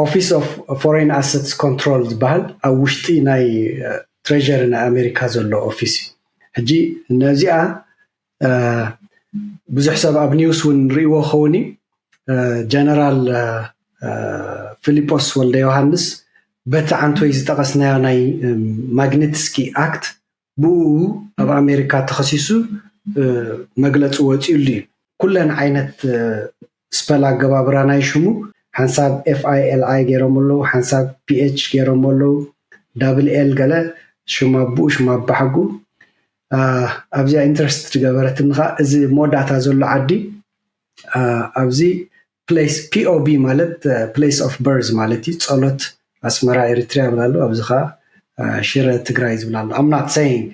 ኦፊስ ኦፍ ፎሬን ኣሰትስ ኮንትሮል ዝበሃል ኣብ ውሽጢ ናይ ትሬዠሪ ናይ ኣሜሪካ ዘሎ ኦፊስ እዩ ሕጂ ነዚኣ ብዙሕ ሰብ ኣብ ኒውስ እውን ንርእይዎ ኸውን እዩ ጀነራል ፊሊጶስ ወልደ ዮሃንስ በቲ ዓንቶይ ዝጠቐስናዮ ናይ ማግኒትስኪ ኣክት ብኡኡ ኣብ ኣሜሪካ ተኸሲሱ መግለፂ ወፂኡሉ እዩ። ኩለን ዓይነት ስፐል ኣገባብራ ናይ ሽሙ ሓንሳብ ኤፍ ኣይ ኤል ኣይ ገይሮሞ ኣለው፣ ሓንሳብ ፒ ኤች ገይሮሞ ኣለው፣ ዳብል ኤል ገለ ሽም ኣቡኡ ሽም ኣባሓጉኡ ኣብዚኣ ኢንተረስት ዝገበረትኒ ከኣ እዚ መወዳእታ ዘሎ ዓዲ ኣብዚ ፕሌስ ፒኦቢ ማለት ፕሌስ ኦፍ በርዝ ማለት እዩ ጸሎት ኣስመራ ኤሪትሪያ ይብል ኣሎ ኣብዚ ከኣ ሽረ ትግራይ ዝብል ኣሎ ኣም ናት ሰይንግ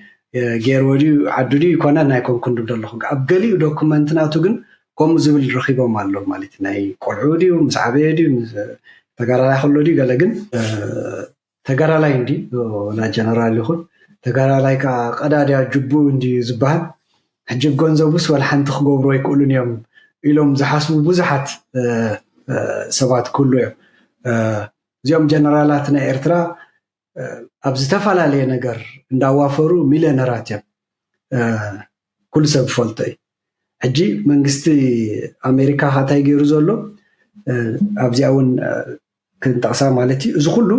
ገይርዎ ድዩ ዓዱ ድዩ ኣይኮነን ኣይኮንኩን ድብ ደለኹ ኣብ ገሊኡ ዶኩመንት ናቱ ግን ከምኡ ዝብል ረኺቦም ኣሎ ማለት ናይ ቆልዑ ድዩ ምስ ዓበየ ድዩ ተጋዳላይ ከሎ ድዩ ገለ ግን ተጋዳላይ እንድዩ ወላ ጀነራል ይኹን ተጋዳላይ ከኣ ቀዳድያ ጅብኡ እንድዩ ዝበሃል ሕጂ ብገንዘቡስ ወልሓንቲ ክገብሩ ኣይክእሉን እዮም ኢሎም ዝሓስቡ ብዙሓት ሰባት ክህሉ እዮም እዚኦም ጀነራላት ናይ ኤርትራ ኣብ ዝተፈላለየ ነገር እንዳዋፈሩ ሚልዮነራት እዮም ኩሉ ሰብ ዝፈልጦ እዩ ሕጂ መንግስቲ ኣሜሪካ ካታይ ገይሩ ዘሎ ኣብዚኣ እውን ክንጠቕሳ ማለት እዩ። እዚ ኩሉ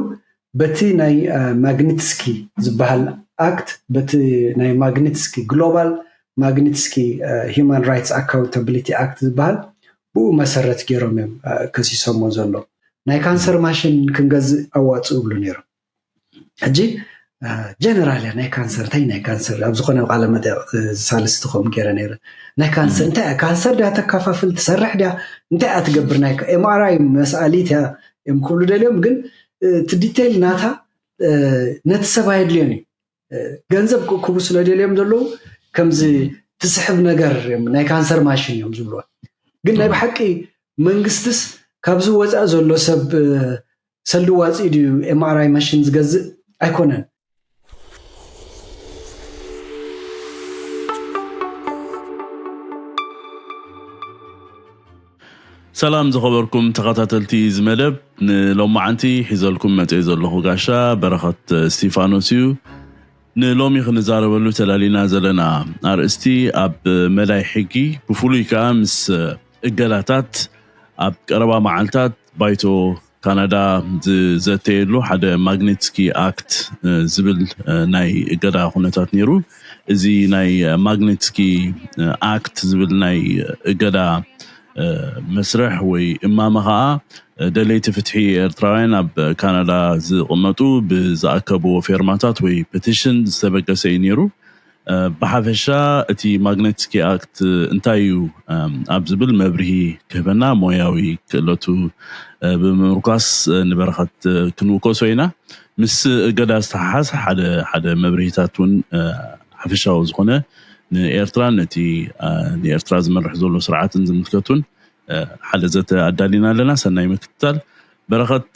በቲ ናይ ማግኒትስኪ ዝበሃል ኣክት፣ በቲ ናይ ማግኒትስኪ ግሎባል ማግኒትስኪ ሂዩማን ራይትስ ኣካውንታብሊቲ ኣክት ዝበሃል ብኡ መሰረት ገይሮም እዮም ከሲሶሞ ዘሎ። ናይ ካንሰር ማሽን ክንገዝእ ኣዋጽኡ ይብሉ ነይሮም። ሕጂ ጀነራል እያ ናይ ካንሰር እንታይ ናይ ካንሰር ኣብ ዝኾነ ቃለ መጠይቕ ሳልስቲ ከምኡ ገይረ ነይረ ናይ ካንሰር እንታይ እያ ካንሰር ድያ ተካፋፍል ትሰርሕ ድያ እንታይ እያ ትገብር ናይ ኤምኣርኣይ መስኣሊት እያ እዮም ክብሉ ደልዮም ግን እቲ ዲቴይል ናታ ነቲ ሰብ ኣየድልዮን እዩ ገንዘብ ክእክቡ ስለደልዮም ዘለዉ ከምዚ ትስሕብ ነገር እዮም ናይ ካንሰር ማሽን እዮም ዝብልዎ ግን ናይ ብሓቂ መንግስትስ ካብዚ ወፃኢ ዘሎ ሰብ ሰልዲ ዋፂ ድዩ ኤምኣርኣይ ማሽን ዝገዝእ ኣይኮነን ሰላም ዝኸበርኩም ተኸታተልቲ እዚ መደብ ንሎማዓንቲ ሒዘልኩም መጼ ዘለኹ ጋሻ በረኸት እስቲፋኖስ እዩ ንሎሚ ክንዛረበሉ ተላሊና ዘለና ኣርእስቲ ኣብ መዳይ ሕጊ ብፍሉይ ከኣ ምስ እገዳታት ኣብ ቀረባ መዓልታት ባይቶ ካናዳ ዝዘተየሉ ሓደ ማግኔትስኪ ኣክት ዝብል ናይ እገዳ ኩነታት ነይሩ። እዚ ናይ ማግኔትስኪ ኣክት ዝብል ናይ እገዳ መስርሕ ወይ እማመ ከዓ ደለይቲ ፍትሒ ኤርትራውያን ኣብ ካናዳ ዝቕመጡ ብዝኣከብዎ ፌርማታት ወይ ፐቲሽን ዝተበገሰ እዩ ነይሩ። ብሓፈሻ እቲ ማግነትስኪ ኣክት እንታይ እዩ ኣብ ዝብል መብርሂ ክህበና ሞያዊ ክእለቱ ብምምርኳስ ንበረኸት ክንውከሶ ኢና። ምስ እገዳ ዝተሓሓዝ ሓደ ሓደ መብርሂታት እውን ሓፈሻዊ ዝኾነ ንኤርትራን ነቲ ንኤርትራ ዝመርሕ ዘሎ ስርዓትን ዝምልከት እውን ሓደ ዘተ ኣዳሊና ኣለና። ሰናይ ምክትታል። በረኸት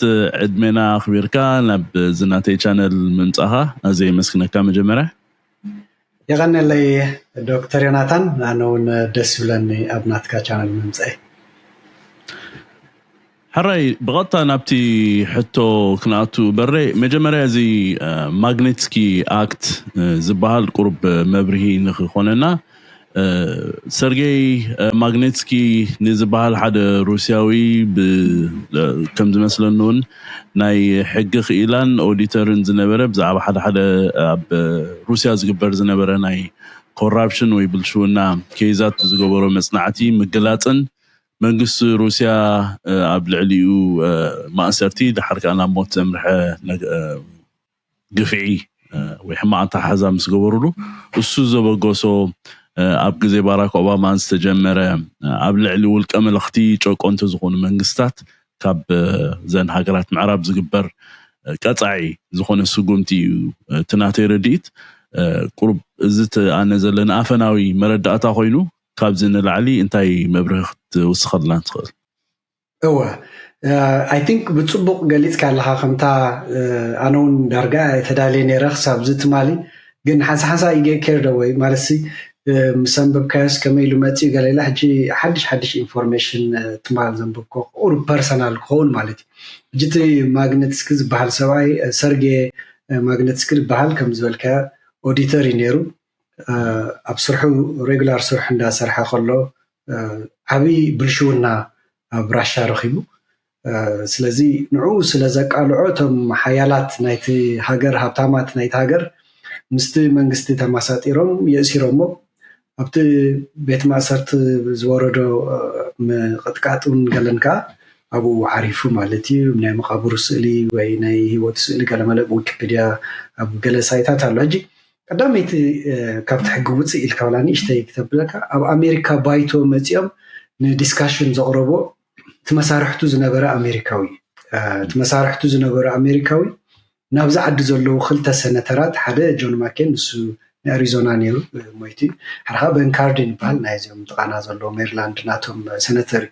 ዕድሜና ኣኽቢርካ ናብዚ ናተይ ቻነል ምምጻኻ ኣዝየ የመስግነካ መጀመርያ። የቀኔለይ ዶክተር ዮናታን ኣነ ውን ደስ ይብለኒ ኣብ ናትካ ቻነል ምምጸኤ። ሕራይ ብቀጥታ ናብቲ ሕቶ ክንኣቱ በሬ መጀመርያ እዚ ማግኔትስኪ ኣክት ዝባሃል ቁሩብ መብርሂ ንክኮነና ሰርጌይ ማግኔትስኪ ንዝበሃል ሓደ ሩስያዊ ከም ዝመስለኒ እውን ናይ ሕጊ ክኢላን ኦዲተርን ዝነበረ ብዛዕባ ሓደ ሓደ ኣብ ሩስያ ዝግበር ዝነበረ ናይ ኮራፕሽን ወይ ብልሽውና ኬይዛት ብዝገበሮ መፅናዕቲ ምግላፅን መንግስቲ ሩስያ ኣብ ልዕሊኡ ማእሰርቲ ደሓር ከዓ ናብ ሞት ዘምርሐ ግፍዒ ወይ ሕማቕ ኣተሓሕዛ ምስ ገበሩሉ እሱ ዘበገሶ ኣብ ግዜ ባራክ ኦባማን ዝተጀመረ ኣብ ልዕሊ ውልቀ መለኽቲ ጨቆንቲ ዝኾኑ መንግስታት ካብ ዘን ሃገራት ምዕራብ ዝግበር ቀጻዒ ዝኾነ ስጉምቲ እዩ እቲ ናተይ ረድኢት ቁሩብ እዚ እቲ ኣነ ዘለኒ ኣፈናዊ መረዳእታ ኮይኑ ካብዚ ንላዕሊ እንታይ መብርሂ ክትውስኸልና ትኽእል? እወ ኣይ ቲንክ ብጽቡቕ ገሊጽካ ኣለኻ ከምታ ኣነ ውን ዳርጋ ተዳልየ ነይረ ክሳብዚ ትማሊ ግን ሓንሳሓንሳ ይጌ ኬርድ ኣወይ ማለትሲ ምስ ኣንበብካዮስ ከመይ ኢሉ መጺኡ ገለ ኢለ ሕጂ ሓድሽ ሓድሽ ኢንፎርሜሽን ትማል ዘንበብኮ ክኡር ፐርሰናል ክኸውን ማለት እዩ ሕጂ እቲ ማግነትስኪ ዝበሃል ሰብኣይ ሰርጌ ማግነትስኪ ዝበሃል ከም ዝበልካዮ ኦዲተር እዩ ነይሩ ኣብ ስርሑ ሬጉላር ስርሑ እንዳሰርሐ ከሎ ዓብይ ብልሽውና ኣብ ራሻ ረኪቡ ስለዚ ንዑ ስለ ዘቃልዖ እቶም ሓያላት ናይቲ ሃገር ሃብታማት ናይቲ ሃገር ምስቲ መንግስቲ ተማሳጢሮም የእሲሮሞ ኣብቲ ቤት ማእሰርቲ ዝወረዶ ምቅጥቃጥ ውን ገለን ከኣ ኣብኡ ዓሪፉ ማለት እዩ ናይ መቃብሩ ስእሊ ወይ ናይ ሂወቱ ስእሊ ገለመለ ብዊኪፒድያ ኣብ ገለ ሳይታት ኣሎ ሕጂ ቀዳመይቲ ካብቲ ሕጊ ውፅእ ኢልካ ዋላ ንእሽተይ ክተብለካ ኣብ ኣሜሪካ ባይቶ መፂኦም ንዲስካሽን ዘቕረቦ እቲ መሳርሕቱ ዝነበረ ኣሜሪካዊ እቲ መሳርሕቱ ዝነበረ ኣሜሪካዊ ናብዚ ዓዲ ዘለዉ ክልተ ሰነተራት ሓደ ጆን ማኬን ንሱ ናይ ኣሪዞና ነይሩ ሞይቲ ሓደ ከዓ በን ካርዲን ይበሃል ናይ እዚኦም ጥቃና ዘለዎ ሜሪላንድ ናቶም ሰነተር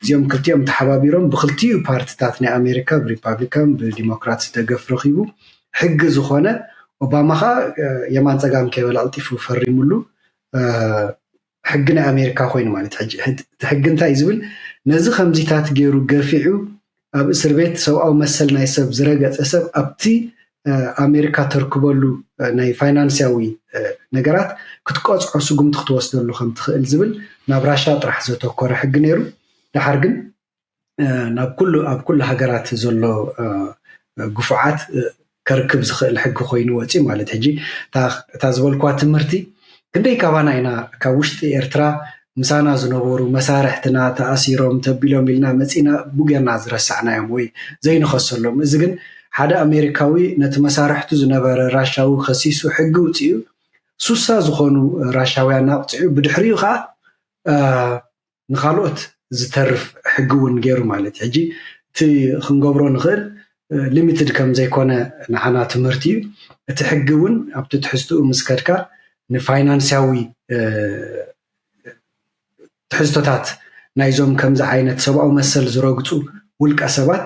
እዚኦም ክልቲኦም ተሓባቢሮም ብክልቲኡ ፓርትታት ናይ ኣሜሪካ ብሪፓብሊካን ብዲሞክራት ደገፍ ረኪቡ ሕጊ ዝኾነ ኦባማ ከዓ የማን ፀጋም ከይበለ ቀልጢፉ ፈሪሙሉ ሕጊ ናይ ኣሜሪካ ኮይኑ ማለት ሕጂ እቲ ሕጊ እንታይ እዩ ዝብል ነዚ ከምዚታት ገይሩ ገፊዑ ኣብ እስር ቤት ሰብኣዊ መሰል ናይ ሰብ ዝረገፀ ሰብ ኣብቲ ኣሜሪካ ተርክበሉ ናይ ፋይናንስያዊ ነገራት ክትቀፅዖ ስጉምቲ ክትወስደሉ ከም ትኽእል ዝብል ናብ ራሻ ጥራሕ ዘተኮረ ሕጊ ነይሩ ድሓር ግን ናብ ኩሉ ኣብ ኩሉ ሃገራት ዘሎ ግፉዓት ከርክብ ዝኽእል ሕጊ ኮይኑ ወፅዩ ማለት ሕጂ እታ ዝበልኳ ትምህርቲ ክንደይ ካባና ኢና ካብ ውሽጢ ኤርትራ ምሳና ዝነበሩ መሳርሕትና ተኣሲሮም ተቢሎም ኢልና መፂና ቡገና ዝረሳዕናዮም ወይ ዘይንኸሰሎም እዚ ግን ሓደ ኣሜሪካዊ ነቲ መሳርሕቱ ዝነበረ ራሻዊ ከሲሱ ሕጊ ውፅኡ ሱሳ ዝኾኑ ራሻውያን ኣቕፂዑ ብድሕሪኡ ከዓ ንካልኦት ዝተርፍ ሕጊ እውን ገይሩ ማለት እዩ። ሕጂ እቲ ክንገብሮ ንኽእል ሊሚትድ ከም ዘይኮነ ንዓና ትምህርቲ እዩ። እቲ ሕጊ እውን ኣብቲ ትሕዝትኡ ምስ ከድካ ንፋይናንስያዊ ትሕዝቶታት ናይዞም ከምዚ ዓይነት ሰብኣዊ መሰል ዝረግፁ ውልቀ ሰባት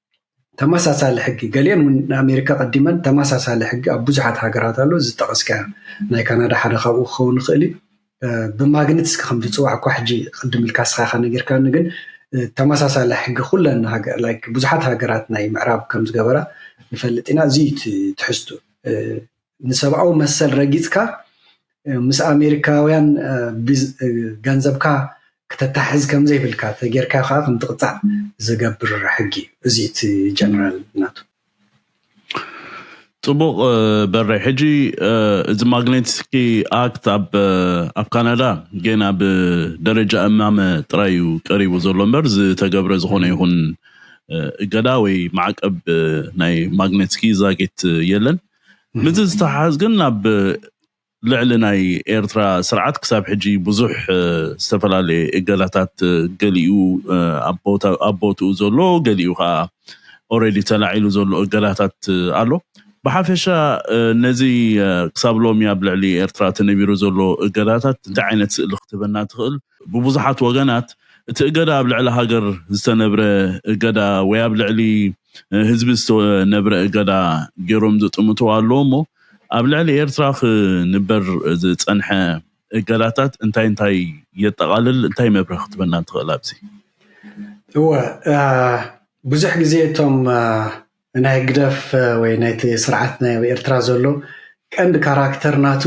ተመሳሳሊ ሕጊ ገሊኤን እውን ንኣሜሪካ ቀዲመን ተመሳሳሊ ሕጊ ኣብ ብዙሓት ሃገራት ኣሎ እዚ ዝጠቐስካዮ ናይ ካናዳ ሓደ ካብኡ ክኸውን ይኽእል እዩ ብማግኒትስ ከም ዝፅዋዕ እኳ ሕጂ ቅድም ኢልካ ስኻ ኢኻ ነጊርካኒ ግን ተመሳሳሊ ሕጊ ኩለን ሃገር ላይክ ብዙሓት ሃገራት ናይ ምዕራብ ከም ዝገበራ ንፈልጥ ኢና እዚ እዩ ትሕዝቱ ንሰብኣዊ መሰል ረጊፅካ ምስ ኣሜሪካውያን ገንዘብካ ክተታሕዝ ከምዘይብልካ ተጌርካ ከዓ ከምትቕፃዕ ዝገብር ሕጊ እዩ እዚ እቲ ጀነራል ናቱ ፅቡቕ በሬ ሕጂ እዚ ማግኔትስኪ ኣክት ኣብ ኣብ ካናዳ ገና ብደረጃ እማመ ጥራይ እዩ ቀሪቡ ዘሎ እምበር ዝተገብረ ዝኾነ ይኹን እገዳ ወይ ማዕቀብ ናይ ማግኔትስኪ ዛጊት የለን ምስዚ ዝተሓሓዝ ግን ኣብ ልዕሊ ናይ ኤርትራ ስርዓት ክሳብ ሕጂ ብዙሕ ዝተፈላለየ እገዳታት ገሊኡ ኣብ ቦትኡ ዘሎ ገሊኡ ከኣ ኦረዲ ተላዒሉ ዘሎ እገዳታት ኣሎ። ብሓፈሻ ነዚ ክሳብ ሎሚ ኣብ ልዕሊ ኤርትራ ተነቢሩ ዘሎ እገዳታት እንታይ ዓይነት ስእሊ ክትህበና ትኽእል? ብብዙሓት ወገናት እቲ እገዳ ኣብ ልዕሊ ሃገር ዝተነብረ እገዳ ወይ ኣብ ልዕሊ ህዝቢ ዝተነብረ እገዳ ገይሮም ዝጥምትዎ ኣለዉ እሞ ኣብ ልዕሊ ኤርትራ ክንበር ዝጸንሐ እገዳታት እንታይ እንታይ የጠቓልል እንታይ መብርሂ ክትበና ትኽእል ኣብዚ? እወ ብዙሕ ግዜ እቶም ናይ ህግደፍ ወይ ናይቲ ስርዓት ናይ ኣብ ኤርትራ ዘሎ ቀንዲ ካራክተር ናቱ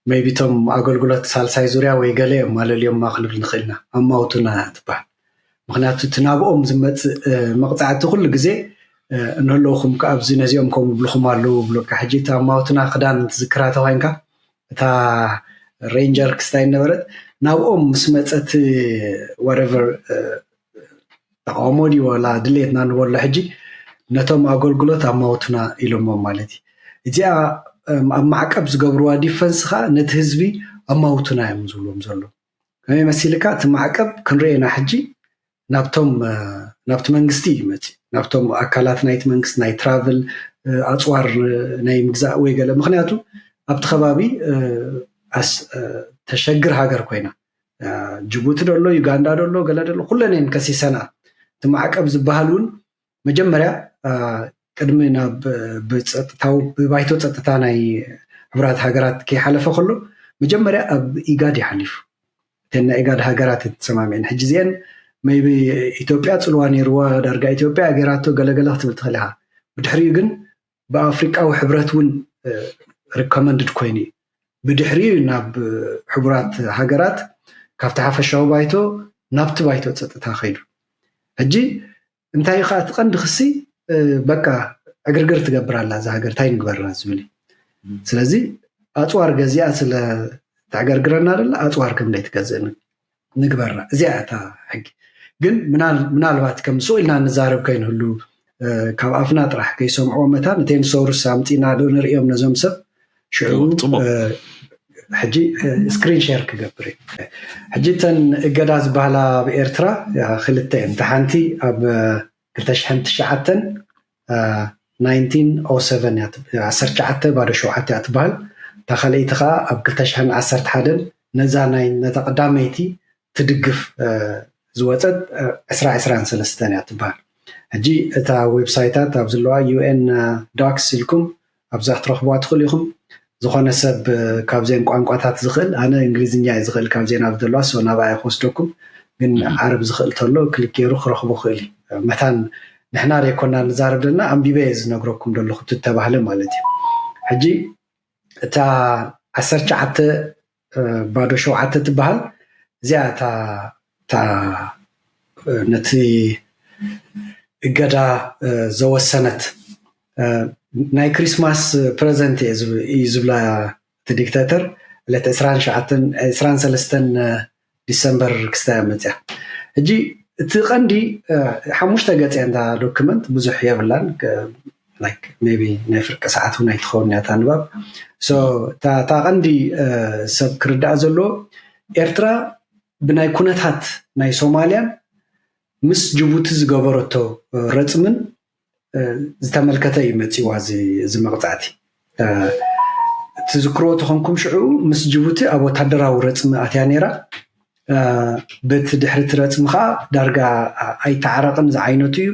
ሜይቢ እቶም ኣገልግሎት ሳልሳይ ዙርያ ወይ ገለ እዮም ኣለልዮማ ክንብል ንኽእል ኢና፣ ኣማውቱና ትበሃል። ምኽንያቱ እቲ ናብኦም ዝመጽእ መቕጻዕቲ ኩሉ ግዜ እንህለውኹም ከ ኣብዚ ነዚኦም ከምኡ ይብልኹም ኣለዉ ይብሉካ። ሕጂ እቲ ኣማውቱና ክዳን ትዝክራ ተኾይንካ እታ ሬንጀር ክስታይ ነበረት ናብኦም ምስ መጸት ወረቨር ተቃውሞ ድዩ ዋላ ድሌትና ንበሎ ሕጂ ነቶም ኣገልግሎት ኣማውትና ኢሎሞም ማለት እዩ እዚኣ ኣብ ማዕቀብ ዝገብርዋ ዲፈንስ ከዓ ነቲ ህዝቢ ኣማውትና እዮም ዝብሎም ዘሎ ከመይ መሲልካ እቲ ማዕቀብ ክንሪኦ ኢና ሕጂ ናብቶም ናብቲ መንግስቲ እዩ መፂ ናብቶም ኣካላት ናይቲ መንግስቲ ናይ ትራቭል ኣፅዋር ናይ ምግዛእ ወይ ገለ ምክንያቱ ኣብቲ ከባቢ ተሸግር ሃገር ኮይና ጅቡቲ ደሎ ዩጋንዳ ደሎ ገለ ደሎ ኩለን እየን ከሲሰና እቲ ማዕቀብ ዝበሃል እውን መጀመርያ ቅድሚ ናብ ብፀጥታዊ ብባይቶ ፀጥታ ናይ ሕቡራት ሃገራት ከይሓለፈ ከሎ መጀመርያ ኣብ ኢጋድ እዩ ሓሊፉ እተን ናይ ኢጋድ ሃገራት ተሰማሚዐን ሕጂ እዚአን መይቢ ኢትዮጵያ ፅልዋ ነይርዋ ዳርጋ ኢትዮጵያ ገይራቶ ገለገለ ክትብል ትኽእል ኢኻ ብድሕሪኡ ግን ብኣፍሪቃዊ ሕብረት እውን ሪኮመንድድ ኮይኑ እዩ። ብድሕሪኡ እዩ ናብ ሕቡራት ሃገራት ካብቲ ሓፈሻዊ ባይቶ ናብቲ ባይቶ ፀጥታ ከይዱ። ሕጂ እንታይ እዩ ከዓ እቲ ቀንዲ ክሲ በቃ ዕግርግር ትገብር ኣላ እዛ ሃገር እንታይ ንግበራ ዝብል እዩ። ስለዚ ኣፅዋር ገዚኣ ስለ ተዕገርግረና ደላ ኣፅዋር ከም ዘይትገዝእ ንግበራ እዚኣ እያ እታ ሕጊ ግን ምናልባት ከም ስቕ ኢልና ንዛረብ ከይንህሉ ካብ ኣፍና ጥራሕ ከይሰምዖ መታን እቴን ሰውርስ ኣምፂና ዶ ንርእዮም ነዞም ሰብ ሽዑ ሕጂ ስክሪን ሸር ክገብር ሕጂ እተን እገዳ ዝበሃላ ኣብ ኤርትራ ክልተ እየን እታ ሓንቲ ኣብ ክልተ ሽሕን ትሽዓተን፣ ናይንቲን ኦው ሰቨን፣ እያ ትብሃል፣ ዓሰርተ ትሽዓተ ባዶ ሸውዓተ እያ ትብሃል፣ እታ ካልኣይቲ ከኣ ኣብ ክልተ ሽሕን ዓሰርተ ሓደን ነዛ ናይ ነታ ቀዳመይቲ ትድግፍ ዝወጸት ዕስራ ዕስራን ሰለስተን እያ ትብሃል። ሕጂ እታ ዌብሳይታት ኣብ ዝለዋ UN Docs ኢልኩም ኣብዛ ክትረኽብዋ ትኽእሉ ኢኹም። ዝኾነ ሰብ ካብዘን ቋንቋታት ዝኽእል ኣነ እንግሊዝኛ እየ ዝኽእል ካብዘን ኣብ ዘለዋ ሶ ናብኣ እየ ክወስደኩም ግን ዓረብ ዝኽእል ተሎ ክሊክ ገይሩ ክረኽቦ ክእል እዩ መታን ንሕና ዘይኮና ንዛረብ ዘለና ኣንቢበ እየ ዝነግረኩም ዘለኹ ትተባህለ ማለት እዩ ሕጂ እታ ዓሰርተ ትሽዓተ ባዶ ሸውዓተ ትበሃል እዚኣ እታ ነቲ እገዳ ዘወሰነት ናይ ክሪስማስ ፕረዘንት እዩ ዝብላ እቲ ዲክታተር ዕለት ዕስራን ሰለስተን ዲሰምበር ክስታይ እያ መፅያ ሕጂ እቲ ቀንዲ ሓሙሽተ ገፅ እያ እንዳ ዶክመንት ብዙሕ የብላን ላይክ ሜቢ ናይ ፍርቂ ሰዓት እውን ኣይትኸውን እያ እታ ንባብ ሶ እታ ቀንዲ ሰብ ክርዳኣ ዘለዎ ኤርትራ ብናይ ኩነታት ናይ ሶማልያን ምስ ጅቡቲ ዝገበረቶ ረፅምን ዝተመልከተ እዩ መፂዋ እዚ መቕፃዕቲ ትዝክርዎ ተኾንኩም ሽዑ ምስ ጅቡቲ ኣብ ወታደራዊ ረፅሚ ኣትያ ነይራ በቲ ድሕሪ እቲ ረፅሚ ከዓ ዳርጋ ኣይተዓረቕን ዝዓይነቱ እዩ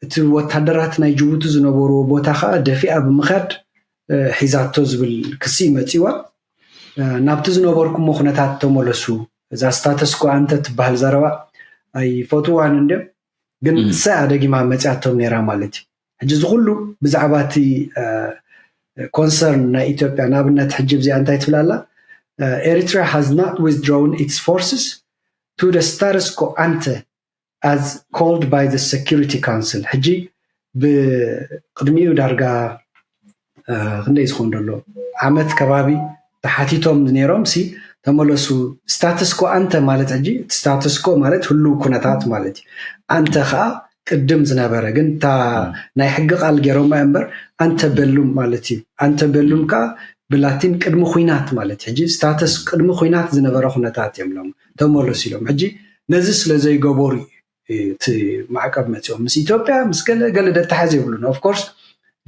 እቲ ወታደራት ናይ ጅቡቲ ዝነበርዎ ቦታ ከዓ ደፊኣ ብምካድ ሒዛቶ ዝብል ክሲ መፂዋ ናብቲ ዝነበርኩሞ ኩነታት ተመለሱ እዛ ስታተስኮ ኣንተ ትበሃል ዘረባ ኣይፈትዋን እንድዮም ግን ንሳ እያ ደጊማ መፅያቶም ነይራ ማለት እዩ ሕጂ እዚ ኩሉ ብዛዕባ እቲ ኮንሰርን ናይ ኢትዮጵያ ንኣብነት ሕጂ እዚኣ እንታይ ትብል ኣላ ኤሪትሪያ ሃዝ ናት ዊዝድሮውን ኢትስ ፎርስስ ቱ ደ ስታርስ ኮ ኣንተ ኣዝ ኮልድ ባይ ዘ ሰኪሪቲ ካውንስል ሕጂ ብቅድሚኡ ዳርጋ ክንደይ ዝኮን ዶ ኣሎ ዓመት ከባቢ ተሓቲቶም ኔሮም ሲ ተመለሱ ስታትስ ኮ ኣንተ ማለት ሕጂ ስታትስ ኮ ማለት ህሉው ኩነታት ማለት እዩ ኣንተ ከኣ ቅድም ዝነበረ ግን እታ ናይ ሕጊ ቃል ጌሮማ እምበር ኣንተ በሉም ማለት እዩ ኣንተ በሉም ከኣ ብላቲን ቅድሚ ኩናት ማለት እዩ ሕጂ ስታትስ ቅድሚ ኩናት ዝነበረ ኩነታት እዮም ሎም ተመለሱ ኢሎም ሕጂ ነዚ ስለ ዘይገበሩ እዩ እቲ ማዕቀብ መፂኦም ምስ ኢትዮጵያ ምስ ገለ ገለ ደተሓዝ የብሉን ኦፍኮርስ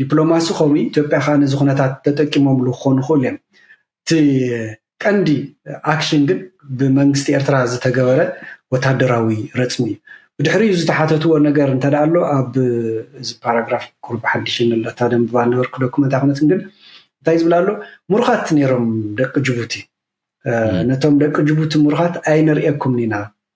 ዲፕሎማሲ ከምኡ ኢትዮጵያ ከዓ ነዚ ኩነታት ተጠቂሞምሉ ክኾኑ ይኽእሉ እዮም እቲ ቀንዲ ኣክሽን ግን ብመንግስቲ ኤርትራ ዝተገበረ ወታደራዊ ረፅሚ እዩ ብድሕሪኡ ዝተሓተትዎ ነገር እንተ ኣሎ ኣብ እዚ ፓራግራፍ ቁርብ ሓድሽ ኣለታ ደንብባ ነበርኩ ዶክመንት ኣይኮነትን ግን እንታይ ዝብል ኣሎ ምሩኻት ነይሮም ደቂ ጅቡቲ ነቶም ደቂ ጅቡቲ ምሩኻት ኣይንርእየኩምን ኢና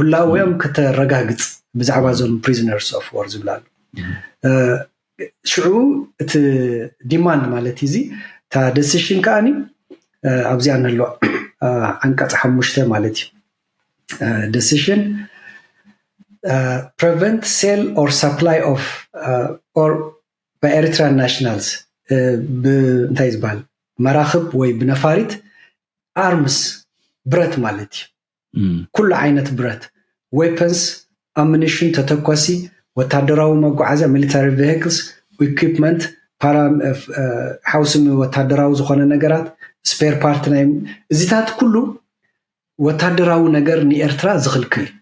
ህላዌኦም ከተረጋግጽ ብዛዕባ እዞም ፕሪዝነርስ ኦፍ ዎር ዝብላ ኣሎ ሽዑ እቲ ዲማንድ ማለት እዚ እታ ደሲሽን ከዓኒ ኣብዚኣ ነሎ ዓንቀፅ ሓሙሽተ ማለት እዩ ደሲሽን ፕሬቨንት ሴል ኦር ሳፕላይ ኦፍ ኦር ብኤሪትራን ናሽናልስ እንታይ ዝበሃል መራኽብ ወይ ብነፋሪት ኣርምስ ብረት ማለት እዩ ኩሉ ዓይነት ብረት፣ ዌፐንስ፣ ኣምኒሽን፣ ተተኳሲ፣ ወታደራዊ መጓዓዝያ፣ ሚሊታሪ ቬሂክልስ፣ ኢኩፕመንት፣ ፓራ ሓውሲ ወታደራዊ ዝኾነ ነገራት፣ ስፔር ፓርት ናይ እዚታት ኩሉ ወታደራዊ ነገር ንኤርትራ ዝኽልክል እዩ።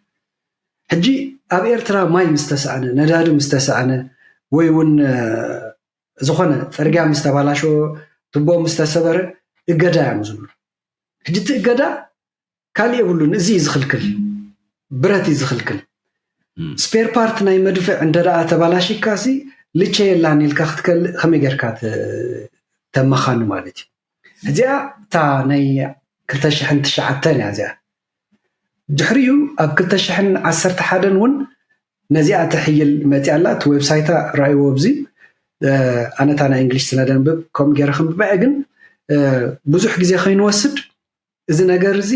ሕጂ ኣብ ኤርትራ ማይ ምስ ተሳእነ ነዳዲ ምስ ተሳእነ ወይ እውን ዝኾነ ፅርግያ ምስ ተባላሸወ ትቦ ምስ ተሰበረ እገዳ እዮም ዝብሉ ሕጂ እቲ እገዳ ካልእ የብሉን እዚ እዩ ዝኽልክል ብረት እዩ ዝኽልክል ስፔር ፓርት ናይ መድፍዕ እንተደኣ ተባላሽካ ሲ ልቸ የላን ኢልካ ክትከልእ ከመይ ጌርካ ተመኻኒ ማለት እዩ እዚኣ እታ ናይ 209 እያ እዚኣ ድሕሪኡ ኣብ 211 እውን ነዚኣ ትሕይል መፅያ ኣላ እቲ ዌብሳይታ ራእይዎ ኣብዚ ኣነታ ናይ እንግሊሽ ስነደንብብ ከምኡ ገይረ ክንብበዐ ግን ብዙሕ ግዜ ከይንወስድ እዚ ነገር እዚ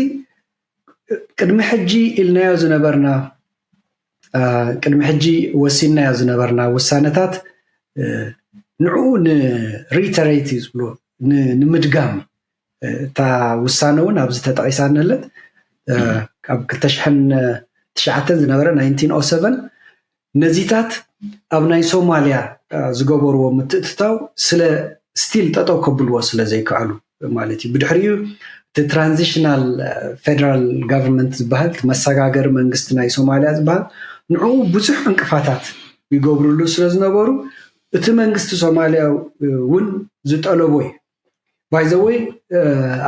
ቅድሚ ሕጂ ኢልናዮ ዝነበርና ቅድሚ ሕጂ ወሲንናዮ ዝነበርና ውሳነታት ንዕኡ ንሪተሬት እዩ ዝብልዎ ንምድጋም እታ ውሳነ እውን ኣብዚ ተጠቂሳ ንህለት ካብ ክልተ ሽሕን ትሽዓተን ዝነበረ ናይንቲን ኦ ሰቨን ነዚታት ኣብ ናይ ሶማልያ ዝገበርዎ ምትእትታው ስለ ስቲል ጠጠው ከብልዎ ስለ ዘይከኣሉ ማለት እዩ። ብድሕሪኡ እቲ ትራንዚሽናል ፌደራል ጋቨርንመንት ዝበሃል መሰጋገሪ መንግስቲ ናይ ሶማልያ ዝበሃል ንዕኡ ብዙሕ ዕንቅፋታት ይገብርሉ ስለ ዝነበሩ እቲ መንግስቲ ሶማልያ እውን ዝጠለቦ እዩ ባይዘወይ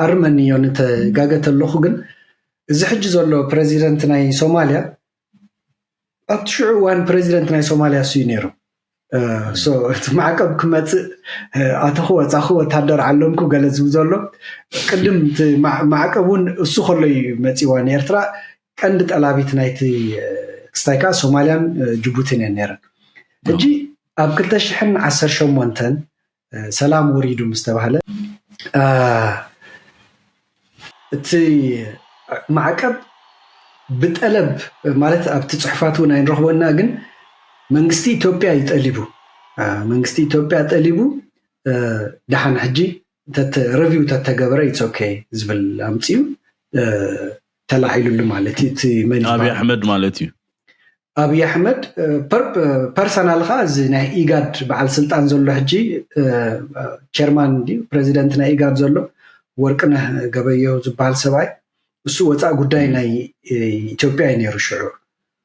ኣርመኒዮ ንተጋገ ተለኹ ግን እዚ ሕጂ ዘሎ ፕረዚደንት ናይ ሶማልያ ኣብቲ ሽዑ እዋን ፕረዚደንት ናይ ሶማልያ እሱ'ዩ ነይሩ። እቲ ማዕቀብ ክመፅእ ኣተኹ ወፃኹ ወታደር ዓለምኩ ገለ ዝብል ዘሎ ቅድም እቲ ማዕቀብ እውን እሱ ከሎ እዩ መፂዋ ንኤርትራ ቀንዲ ጠላቢት ናይቲ ክስታይ ከዓ ሶማልያን ጅቡቲን እየን ነይረን። ሕጂ ኣብ ክልተ ሽሕን ዓሰርተ ሸሞንተን ሰላም ወሪዱ ምስ ተባህለ እቲ ማዕቀብ ብጠለብ ማለት ኣብቲ ፅሑፋት እውን ኣይንረኽቦና ግን መንግስቲ ኢትዮጵያ እዩ ጠሊቡ መንግስቲ ኢትዮጵያ ጠሊቡ ደሓን ሕጂ ረቪው ተተገበረ ይፀከ ዝብል ኣምፅኡ ተላዒሉሉ ማለት እዩ እቲ መን ኣብይ ኣሕመድ ማለት እዩ ኣብይ ኣሕመድ ፐርሰናል ከዓ እዚ ናይ ኢጋድ በዓል ስልጣን ዘሎ ሕጂ ቸርማን እንዲ ፕሬዚደንት ናይ ኢጋድ ዘሎ ወርቅነህ ገበየሁ ዝበሃል ሰብኣይ እሱ ወፃእ ጉዳይ ናይ ኢትዮጵያ እዩ ነይሩ ሽዑ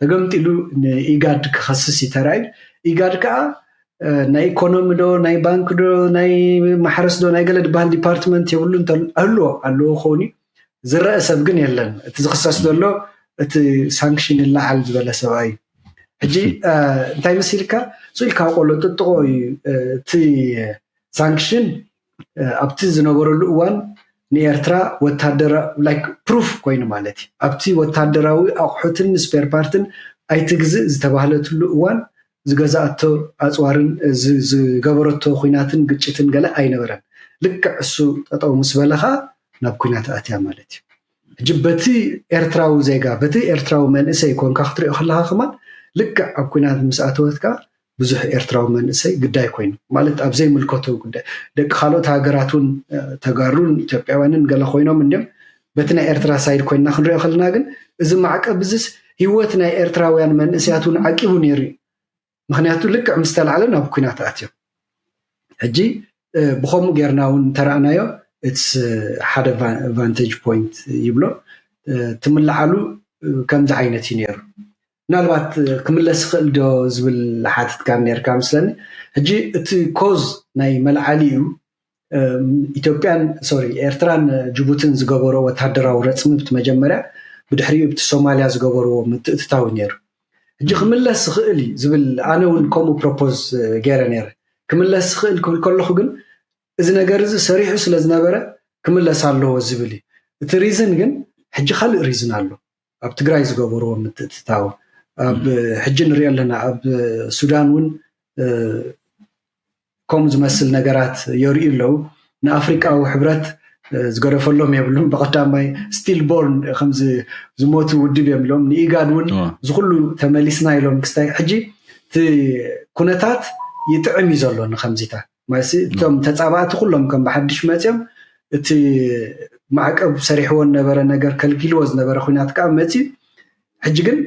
ተገምጢሉ ንኢጋድ ክኸስስ እዩ ተራእዩ ኢጋድ ከዓ ናይ ኢኮኖሚ ዶ ናይ ባንክ ዶ ናይ ማሕረስ ዶ ናይ ገለ ድበሃል ዲፓርትመንት የብሉ ኣለዎ ኣለዎ ክኸውን እዩ ዝረአ ሰብ ግን የለን እቲ ዝኽሰስ ዘሎ እቲ ሳንክሽን ይለዓል ዝበለ ሰብኣ እዩ ሕጂ እንታይ መሲልካ ስኢልካ ቆሎ ጥጥቆ እዩ እቲ ሳንክሽን ኣብቲ ዝነበረሉ እዋን ንኤርትራ ፕሩፍ ኮይኑ ማለት እዩ ኣብቲ ወታደራዊ ኣቑሑትን ስፔር ፓርትን ኣይትግዝእ ዝተባህለትሉ እዋን ዝገዝኣቶ ኣፅዋርን ዝገበረቶ ዂናትን ግጭትን ገለ ኣይነበረን። ልክዕ እሱ ጠጠው ምስ በለ ኸኣ ናብ ኲናት ኣትያ ማለት እዩ። ሕጂ በቲ ኤርትራዊ ዜጋ በቲ ኤርትራዊ መንእሰይ ኮንካ ክትሪኦ ከለኻ ከማን ልክዕ ኣብ ኲናት ምስ ኣተወት ከኣ ብዙሕ ኤርትራዊ መንእሰይ ግዳይ ኮይኑ ማለት ኣብ ዘይምልከቶ ጉዳይ ደቂ ካልኦት ሃገራት እውን ተጋሩን ኢትዮጵያውያንን ገለ ኮይኖም እንዲም በቲ ናይ ኤርትራ ሳይድ ኮይንና ክንሪኦ ከለና ግን እዚ ማዕቀብ እዚስ ህይወት ናይ ኤርትራውያን መንእሰያት እውን ዓቂቡ ነይሩ እዩ ምክንያቱ ልክዕ ምስ ተላዕለ ናብ ኩናት ኣትዮም ሕጂ ብከምኡ ጌርና እውን ተረእናዮ እትስ ሓደ ቫንቴጅ ፖይንት ይብሎ ትምልዓሉ ከምዚ ዓይነት እዩ ነይሩ ምናልባት ክምለስ ይኽእል ዶ ዝብል ሓቲትካ ነርካ ምስለኒ ሕጂ እቲ ኮዝ ናይ መልዓሊ እዩ ኢትዮጵያን ሶሪ ኤርትራን ጅቡትን ዝገበሮ ወተሃደራዊ ረፅሚ ብቲ መጀመርያ ብድሕሪኡ ብቲ ሶማልያ ዝገበርዎ ምትእትታው ነይሩ ሕጂ ክምለስ ዝኽእል እዩ ዝብል ኣነ እውን ከምኡ ፕሮፖዝ ገይረ ነይረ ክምለስ ዝኽእል ክብል ከለኹ ግን እዚ ነገር እዚ ሰሪሑ ስለ ዝነበረ ክምለስ ኣለዎ ዝብል እዩ እቲ ሪዝን ግን ሕጂ ካልእ ሪዝን ኣሎ ኣብ ትግራይ ዝገበርዎ ምትእትታው ኣብ ሕጂ ንሪኦ ኣለና ኣብ ሱዳን እውን ከምኡ ዝመስል ነገራት የርእዩ ኣለዉ ንኣፍሪቃዊ ሕብረት ዝገደፈሎም የብሉም ብቀዳማይ ስቲል ቦርን ከምዚ ዝሞቱ ውድብ እዮም ኢሎም ንኢጋድ እውን ዝኩሉ ተመሊስና ኢሎም ክስታይ ሕጂ እቲ ኩነታት ይጥዕም እዩ ዘሎ ንከምዚታት ማይሲ እቶም ተፃባእቲ ኩሎም ከም ብሓድሽ መፅዮም እቲ ማዕቀብ ሰሪሕዎ ዝነበረ ነገር ከልጊልዎ ዝነበረ ኩናት ከዓ መፅዩ ሕጂ ግን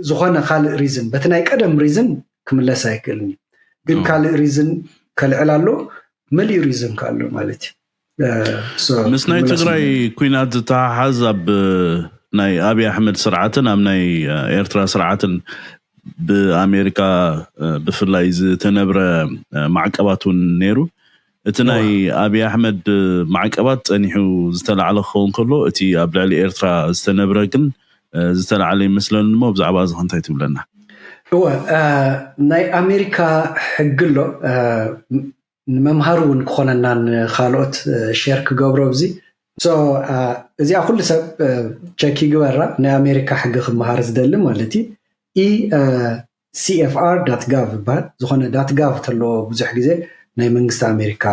ዝኾነ ካልእ ሪዝን በቲ ናይ ቀደም ሪዝን ክምለስ ኣይክእልን እዩ ግን ካልእ ሪዝን ከልዕል ኣሎ መሊኡ ሪዝን ከ ኣሎ ማለት እዩ ምስ ናይ ትግራይ ኩናት ዝተሓሓዝ ኣብ ናይ ኣብይ ኣሕመድ ስርዓትን ኣብ ናይ ኤርትራ ስርዓትን ብኣሜሪካ ብፍላይ ዝተነብረ ማዕቀባት እውን ነይሩ እቲ ናይ ኣብይ ኣሕመድ ማዕቀባት ፀኒሑ ዝተላዕለ ክኸውን ከሎ እቲ ኣብ ልዕሊ ኤርትራ ዝተነብረ ግን ዝተላዕለ ይመስለኒ እሞ ብዛዕባ እዚ ከንታይ ትብለና እወ ናይ ኣሜሪካ ሕጊ ኣሎ ንመምሃሪ ውን ክኾነና ንኻልኦት ሼር ክገብሮ እዚ so እዚኣ ኩሉ ሰብ ቸክ ይግበራ ናይ ኣሜሪካ ሕጊ ክመሃር ዝደሊ ማለት እዩ ECFR dot gov ይበሃል ዝኾነ dot gov ተለዎ ብዙሕ ግዜ ናይ መንግስቲ ኣሜሪካ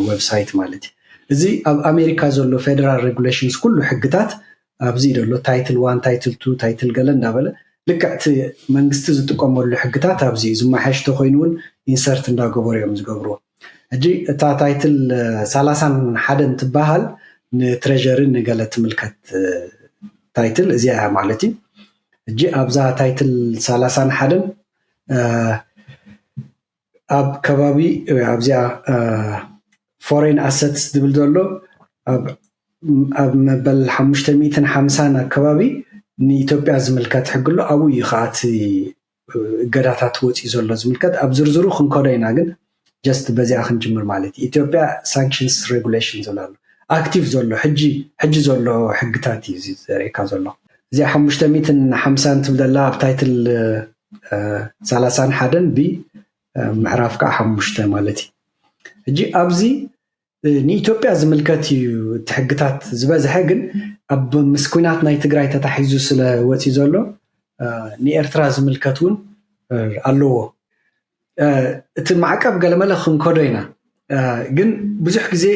website ማለት እዩ እዚ ኣብ ኣሜሪካ ዘሎ federal regulations ኩሉ ሕግታት ኣብዚ ዘሎ ታይትል ዋን ታይትል ቱ ታይትል ገለ እንዳበለ ልክዕ እቲ መንግስቲ ዝጥቀመሉ ሕግታት ኣብዚ እዩ ዝመሓየሽ ተኮይኑ እውን ኢንሰርት እንዳገበሩ እዮም ዝገብርዎ ሕጂ እታ ታይትል ሰላሳን ሓደን ትበሃል ንትሬዠሪ ንገለ ትምልከት ታይትል እዚኣ እያ ማለት እዩ ሕጂ ኣብዛ ታይትል ሰላሳን ሓደን ኣብ ከባቢ ኣብዚኣ ፎሬን ኣሰት ዝብል ዘሎ ኣብ መበል ሓሙሽተ ሚእትን ሓምሳን ኣከባቢ ንኢትዮጵያ ዝምልከት ሕጊ ኣሎ ኣብኡ እዩ ከዓ እቲ እገዳታት ወፂኡ ዘሎ ዝምልከት ኣብ ዝርዝሩ ክንከዶ ኢና ግን ጀስት በዚኣ ክንጅምር ማለት እዩ ኢትዮጵያ ሳንክሽንስ ሬጉሌሽን ዘሎ ኣሎ ኣክቲቭ ዘሎ ሕጂ ሕጂ ዘሎ ሕግታት እዩ ዘርእካ ዘሎ እዚኣ ሓሙሽተ ሚእትን ሓምሳን ትብለላ ኣብ ታይትል ሳላሳን ሓደን ብ ምዕራፍ ከዓ ሓሙሽተ ማለት እዩ። ሕጂ ኣብዚ ንኢትዮጵያ ዝምልከት እዩ እቲ ሕግታት ዝበዝሐ ግን ኣብ ምስ ኩናት ናይ ትግራይ ተታሒዙ ስለ ወፂ ዘሎ ንኤርትራ ዝምልከት እውን ኣለዎ። እቲ ማዕቀብ ገለመለ ክንከዶ ኢና ግን ብዙሕ ግዜ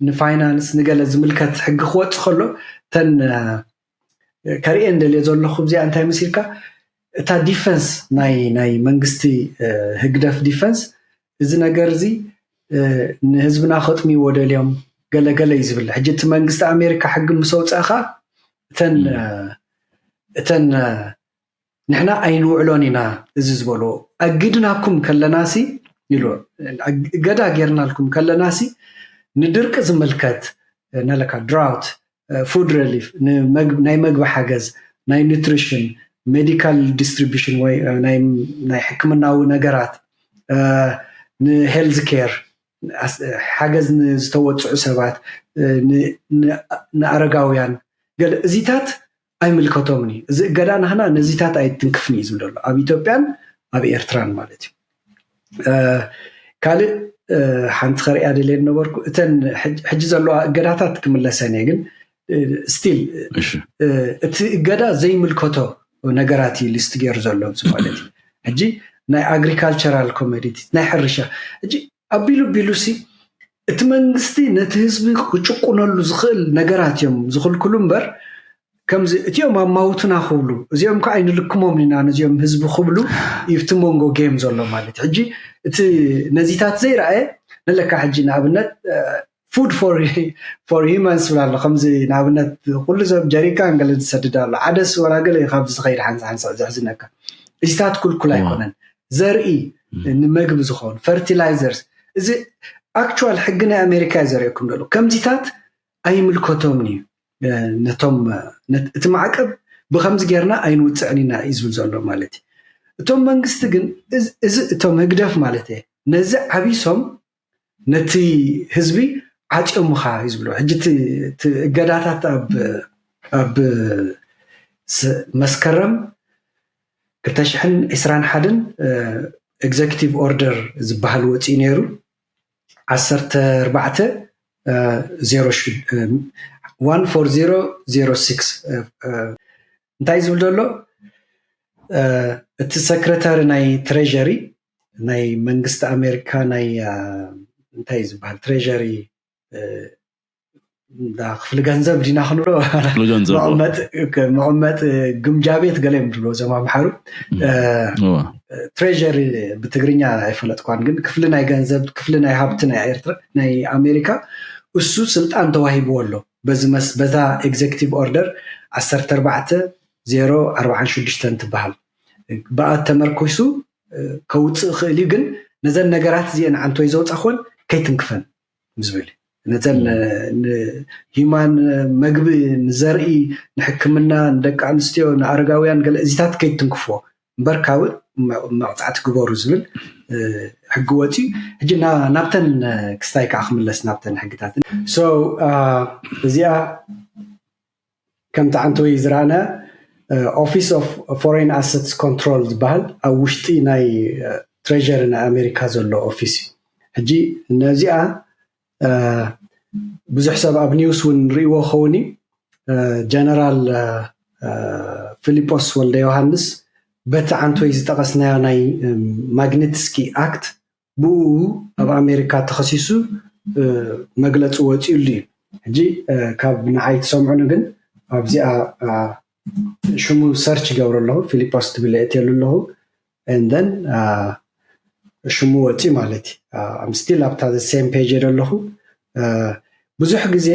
ንፋይናንስ ንገለ ዝምልከት ሕጊ ክወፅ ከሎ እተን ከርእየን ደልየ ዘለኹ እዚኣ እንታይ መሲልካ እታ ዲፈንስ ናይ ናይ መንግስቲ ህግደፍ ዲፈንስ እዚ ነገር እዚ ንህዝብና ከጥምይዎ ደልዮም ገለገለ እዩ ዝብል ሕጂ እቲ መንግስቲ ኣሜሪካ ሕጊ ምስ ኣውፅእኻ እተን እተን ንሕና ኣይንውዕሎን ኢና እዚ ዝበልዎ ኣጊድናኩም ከለናሲ ኢሉ እገዳ ጌርናልኩም ከለናሲ ንድርቂ ዝምልከት ነለካ ድራውት ፉድ ረሊፍ ናይ መግቢ ሓገዝ ናይ ኒትሪሽን ሜዲካል ዲስትሪቢሽን ወይ ናይ ሕክምናዊ ነገራት ንሄልዝ ኬር ሓገዝ ንዝተወፅዑ ሰባት ንኣረጋውያን ገለ እዚታት ኣይምልከቶምን እዩ እዚ እገዳ ናህና ነዚታት ኣይትንክፍን እዩ ዝብል ዘሎ ኣብ ኢትዮጵያን ኣብ ኤርትራን ማለት እዩ ካልእ ሓንቲ ከርእያ ደልየ ነበርኩ እተን ሕጂ ዘለዋ እገዳታት ክምለሰን እየ ግን ስቲል እቲ እገዳ ዘይምልከቶ ነገራት እዩ ሊስት ገይሩ ዘሎ ማለት እዩ ሕጂ ናይ ኣግሪካልቸራል ኮሜዲቲ ናይ ሕርሻ ሕጂ ኣቢሉ ኣቢሉሲ እቲ መንግስቲ ነቲ ህዝቢ ክጭቁነሉ ዝኽእል ነገራት እዮም ዝኽልክሉ እምበር ከምዚ እቲኦም ኣማውትና ክብሉ እዚኦም ከዓ ኣይንልክሞም ኢና ነዚኦም ህዝቢ ክብሉ እዩ እቲ መንጎ ጌም ዘሎ ማለት እዩ ሕጂ እቲ ነዚታት ዘይረኣየ ንለካ ሕጂ ንኣብነት ፉድ ፎር ሂማንስ ዝብል ኣሎ ከምዚ ንኣብነት ኩሉ ሰብ ጀሪካን ገለ ዝሰድድ ኣሎ ዓደስ ወላ ገለ እዩ ካብዚ ዝኸይድ ሓንሳ ሓንሳዕ ዘሕዝነካ እዚታት ኩልኩል ኣይኮነን ዘርኢ ንመግቢ ዝኾኑ ፈርቲላይዘርስ እዚ ኣክቹዋል ሕጊ ናይ ኣሜሪካ እዩ ዘርእየኩም ደሎ ከምዚታት ኣይምልከቶምን እዩ ነቶም እቲ ማዕቀብ ብከምዚ ጌርና ኣይንውፅዕን ኢና እዩ ዝብል ዘሎ ማለት እዩ እቶም መንግስቲ ግን እዚ እቶም ህግደፍ ማለት እየ ነዚ ዓቢሶም ነቲ ህዝቢ ዓፅዮምኻ እዩ ዝብሎ ሕጂ እገዳታት ኣብ መስከረም 221 ኤግዘኪቲቭ ኦርደር ዝበሃል ወፂኡ ነይሩ 1406 እንታይ ዝብል ዘሎ እቲ ሰክረታሪ ናይ ትሬዠሪ ናይ መንግስቲ ኣሜሪካ ናይ እንታይ ዝበሃል ትሬዠሪ ክፍሊ ገንዘብ ዲና ክንብሎ መቐመጢ ግምጃ ቤት ገለ እዮም ዝብሎ እዞም ኣምሓሩ ትሬዠሪ ብትግርኛ ኣይፈለጥኳን ግን ክፍሊ ናይ ገንዘብ ክፍሊ ናይ ሃብቲ ናይ ኤርትራ ናይ ኣሜሪካ እሱ ስልጣን ተዋሂብዎ ኣሎ በዛ ኤግዜክቲቭ ኦርደር 14 046 ትበሃል ብኣ ተመርኩሱ ከውፅእ ይኽእል እዩ ግን ነዘን ነገራት እዚአን ዓንቶይ ዘውፃኾን ከይትንክፈን ዝብል ነተን ንሂማን መግቢ ንዘርኢ ንሕክምና ንደቂ ኣንስትዮ ንኣረጋውያን ገለ እዚታት ከይትንክፎ እምበር ካብእ መቕፃዕቲ ግበሩ ዝብል ሕጊ ወፅዩ ሕጂ ናብተን ክስታይ ከዓ ክምለስ ናብተን ሕግታት እዚኣ ከም ታዓንቶይ ዝራኣነ ኦፊስ ኦፍ ፎሬን ኣሰትስ ኮንትሮል ዝባሃል ኣብ ውሽጢ ናይ ትሬዠሪ ናይ ኣሜሪካ ዘሎ ኦፊስ እዩ ሕጂ ነዚኣ ብዙሕ ሰብ ኣብ ኒውስ ውን ሪእዎ ክኸውን እዩ ጀነራል ፍሊጶስ ወልደዮሃንስ በቲ ዓንቶይ ዝጠቐስናዮ ናይ ማግኒትስኪ ኣክት ብእኡ ኣብ ኣሜሪካ ተኸሲሱ መግለፂ ወፂኡሉ እዩ። ሕጂ ካብ ንዓይ ትሰምዑኒ ግን ኣብዚኣ ሽሙ ሰርች ይገብሮ ኣለኹ ፊሊጶስ ትብል የእትየሉ ኣለኹ እንደን ሽሙ ወፂኡ ማለት እዩ ስቲል ኣብታ ሴም ፔጅ የደ ኣለኹ ብዙሕ ግዜ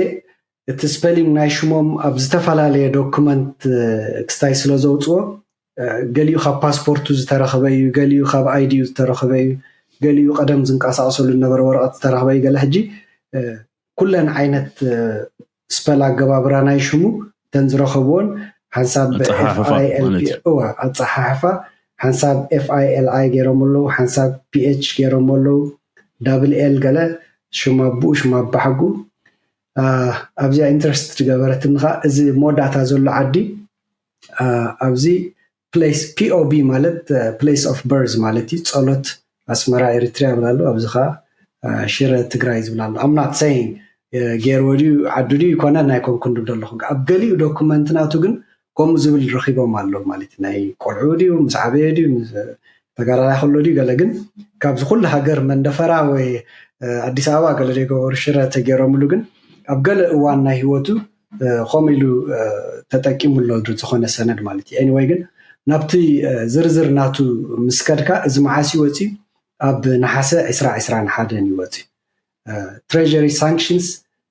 እቲ ስፐሊንግ ናይ ሽሞም ኣብ ዝተፈላለየ ዶክመንት ክስታይ ስለ ዘውፅዎ ገሊኡ ካብ ፓስፖርቱ ዝተረኽበ እዩ፣ ገሊኡ ካብ ኣይዲኡ ዝተረኽበ እዩ፣ ገሊኡ ቀደም ዝንቀሳቐሰሉ ዝነበረ ወረቐት ዝተረኽበ እዩ፣ ገለ ሕጂ ኩለን ዓይነት ስፐል ኣገባብራ ናይ ሽሙ እተን ዝረኸብዎን ሓንሳብ ኣፀሓሕፋ ሓንሳብ ኤፍ ኣይ ኤል ኣይ ገይሮም ኣለዉ፣ ሓንሳብ ፒኤች ገይሮም ኣለዉ፣ ዳብል ኤል ገለ ሽም ኣቡኡ ሽም ኣባሓጉ ኣብዚኣ ኢንተረስት ዝገበረትኒ ከዓ እዚ መወዳእታ ዘሎ ዓዲ ኣብዚ ፕሌስ ፒኦቢ ማለት ፕሌስ ኦፍ በርዝ ማለት እዩ ፀሎት ኣስመራ ኤሪትሪያ ይብል ኣሎ ኣብዚ ከዓ ሽረ ትግራይ ዝብል ኣሎ ኣምናት ሰይን ገይርዎ ድዩ ዓዱ ድዩ ይኮነን ኣይኮንኩን ድብ ደለኹ ኣብ ገሊኡ ዶኩመንት ናቱ ግን ከምኡ ዝብል ረኺቦም ኣሎ ማለት ናይ ቆልዑ ድዩ ምስ ዓበየ ድዩ ተጋዳላይ ከሎ ድዩ ገለ ግን ካብዚ ኩሉ ሃገር መንደፈራ ወይ ኣዲስ ኣበባ ገለ ዘይገበሩ ሽረ ተገይሮምሉ ግን ኣብ ገለ እዋን ናይ ህይወቱ ከምኡ ኢሉ ተጠቂሙ ኣሎ ዝኾነ ሰነድ ማለት እዩ ኤኒወይ ግን ናብቲ ዝርዝር ናቱ ምስ ከድካ እዚ መዓስ ይወፅዩ ኣብ ነሓሰ 2021 ይወፅዩ ትሬሪ ሳንክሽንስ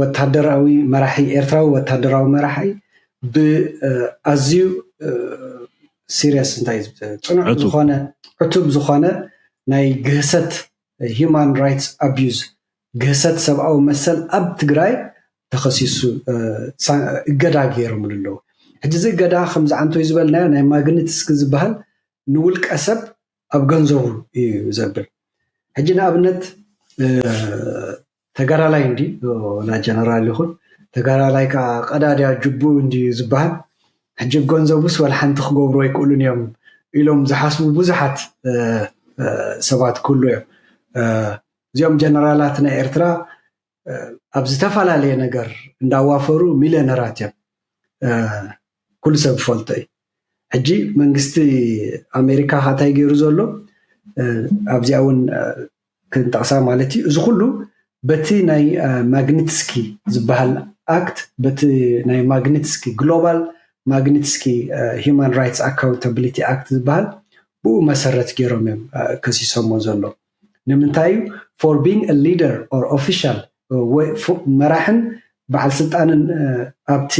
ወታደራዊ መራሒ ኤርትራዊ ወታደራዊ መራሒ ብኣዝዩ ሲርየስ እንታይ ፅኑዕ ዝኾነ ዕቱብ ዝኾነ ናይ ግህሰት ሂማን ራይትስ ኣቢዩዝ ግህሰት ሰብኣዊ መሰል ኣብ ትግራይ ተኸሲሱ እገዳ ገይሮምሉ ኣለዉ። ሕጂ እዚ እገዳ ከምዚ ዓንቶይ ዝበልናዮ ናይ ማግኒትስኪ ዝበሃል ንውልቀ ሰብ ኣብ ገንዘቡ እዩ ዘብል። ሕጂ ንኣብነት ተጋዳላይ እንድዩ ወላ ጀነራል ይኹን ተጋዳላይ ከኣ ቀዳድያ ጅብኡ እንድዩ ዝበሃል ሕጂ ብገንዘቡስ ወልሓንቲ ክገብሩ ኣይክእሉን እዮም ኢሎም ዝሓስቡ ብዙሓት ሰባት ክህሉ እዮም እዚኦም ጀነራላት ናይ ኤርትራ ኣብ ዝተፈላለየ ነገር እንዳዋፈሩ ሚልዮነራት እዮም ኩሉ ሰብ ዝፈልጦ እዩ ሕጂ መንግስቲ ኣሜሪካ ካታይ ገይሩ ዘሎ ኣብዚኣ እውን ክንጠቕሳ ማለት እዩ። እዚ ኩሉ በቲ ናይ ማግኒትስኪ ዝበሃል ኣክት፣ በቲ ናይ ማግኒትስኪ፣ ግሎባል ማግኒትስኪ ሂዩማን ራይትስ ኣካውንታብሊቲ ኣክት ዝበሃል ብኡ መሰረት ገይሮም እዮም ከሲሶሞ ዘሎ። ንምንታይ እዩ ፎር ቢንግ አ ሊደር ኦር ኦፊሻል መራሕን በዓል ስልጣንን ኣብቲ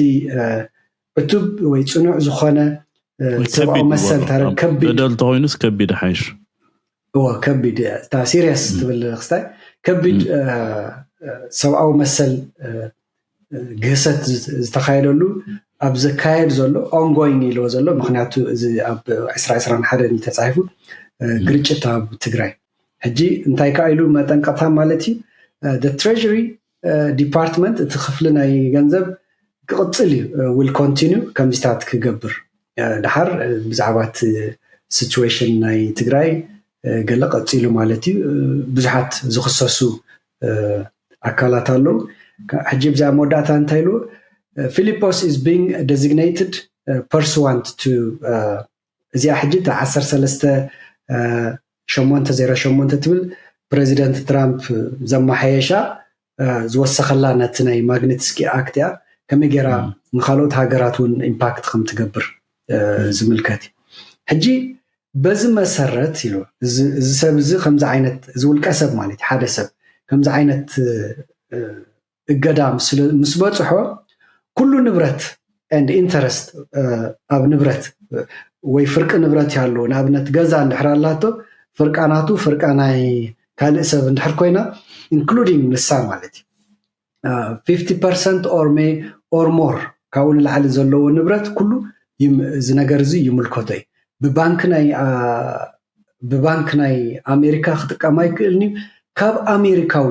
ዕቱብ ወይ ፅኑዕ ዝኾነ ሰብኣዊ መሰል ከቢድ በደል ተኮይኑስ ከቢድ ሓይሽ እዎ ከቢድ እታ ሲሪየስ ትብል ክስታይ ከቢድ ሰብኣዊ መሰል ግህሰት ዝተካየደሉ ኣብ ዘካየድ ዘሎ ኦንጎይን ኢልዎ ዘሎ ምክንያቱ እዚ ኣብ 221 ተፃሒፉ ግርጭት ኣብ ትግራይ ሕጂ እንታይ ከዓ ኢሉ መጠንቀቕታ ማለት እዩ ትሬሪ ዲፓርትመንት እቲ ክፍሊ ናይ ገንዘብ ክቕጽል እዩ ዊል ኮንቲኒ ከምዚታት ክገብር ድሓር ብዛዕባ እቲ ሲትዌሽን ናይ ትግራይ ገለ ቀፂሉ ማለት እዩ ብዙሓት ዝኽሰሱ ኣካላት ኣለዉ ሕጂ ብዛ መወዳእታ እንታይ ኢሉ ፊሊጶስ ኢዝ ቢንግ ደዚግነይትድ ፐርስዋንት ቱ እዚኣ ሕጂ እታ ዓሰርተ ሰለስተ ሸሞንተ ዜሮ ሸሞንተ ትብል ፕረዚደንት ትራምፕ ዘመሓየሻ ዝወሰኸላ ነቲ ናይ ማግኒትስኪ ኣክት እያ ከመይ ጌራ ንካልኦት ሃገራት እውን ኢምፓክት ከም ትገብር ዝምልከት እዩ ሕጂ በዚ መሰረት ኢሉ እዚ ሰብ እዚ ከምዚ ዓይነት እዚ ውልቀ ሰብ ማለት ሓደ ሰብ ከምዚ ዓይነት እገዳ ምስ በፅሖ ኩሉ ንብረት ኤንድ ኢንተረስት ኣብ ንብረት ወይ ፍርቂ ንብረት እዩ ኣለዎ ንኣብነት ገዛ እንድሕር ኣላቶ ፍርቃ ናቱ ፍርቃ ናይ ካልእ ሰብ እንድሕር ኮይና ኢንክሉዲንግ ንሳ ማለት እዩ ፊፍቲ ፐርሰንት ኦር ሜ ኦር ሞር ካብኡ ንላዕሊ ዘለዎ ንብረት ኩሉ እዚ ነገር እዚ ይምልከቶ እዩ ብባንክ ናይ ብባንክ ናይ ኣሜሪካ ክጥቀም ኣይክእልን እዩ ካብ ኣሜሪካዊ